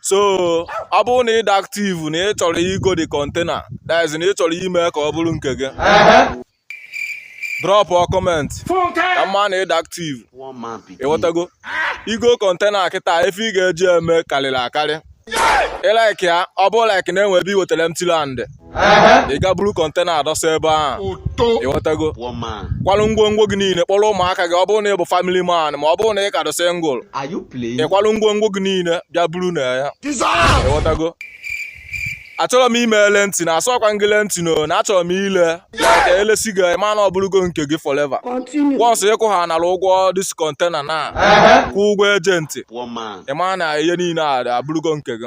so ọ bụrụ na ị dị active na ị chọrọ igo the container that is na ị chọrọ ime ka ọ bụrụ nke gị drop a comment ka m ma na ị dị active ị ghọtago igo container kịta ife ị ga-eji eme karịrị akarị ị like ya ọ bụ like na e nwe ebe i wetara empty land ị ga buru container a dọsa ebe ahụ ị ghọtago kwalụ ngwongwo gị niile kpọrọ ụmụaka gị ọ bụrụ na ị bụ family man ma ọ bụrụ na ị ka dị single ị kwalụ ngwongwo gị niile bịa biri na ya ị ghọtago achọrọ m ime renting asịkwa gị renting no na achọrọ m ile ka e lesi gị ma na ọ bụrụgo nke gị forever once ị kwụhanara ụgwọ this container na kwụọ ụgwọ agent ị ma na ihe niile a abụrụgo nke gị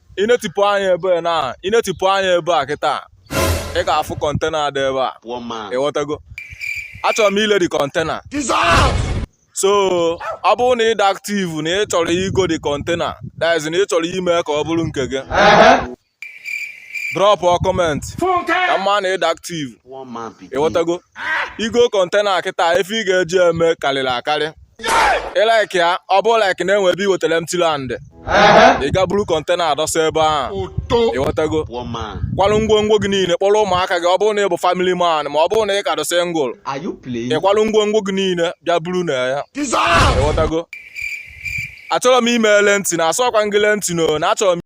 i netipụ anya ebe na i netipụ anya ebe a kịta ị ga-afụ container dị ebe a ị ghọtago achọrọ m ile the container so ọ bụrụ na ị dị active na ị chọrọ igo the container that is na ị chọrọ ime ka ọ bụrụ nke gị drop a comment ka m ma na ị dị active ị ghọtago igo container kịta ife ị ga-eji eme karịrị akarị ị like ya ọ bụ like na e nwe ebe i wetara empty land ị ga buru container a dọsa ebe ahụ ị ghọtago kwalụ ngwongwo gị niile kpọrọ ụmụaka gị ọ bụrụ na ị bụ family man ma ọ bụrụ na ị ka dị single ị kwalụ ngwongwo gị niile bịa biri na ya ị ghọtago achọrọ m ime renting asịkwa gị renting na achọrọ m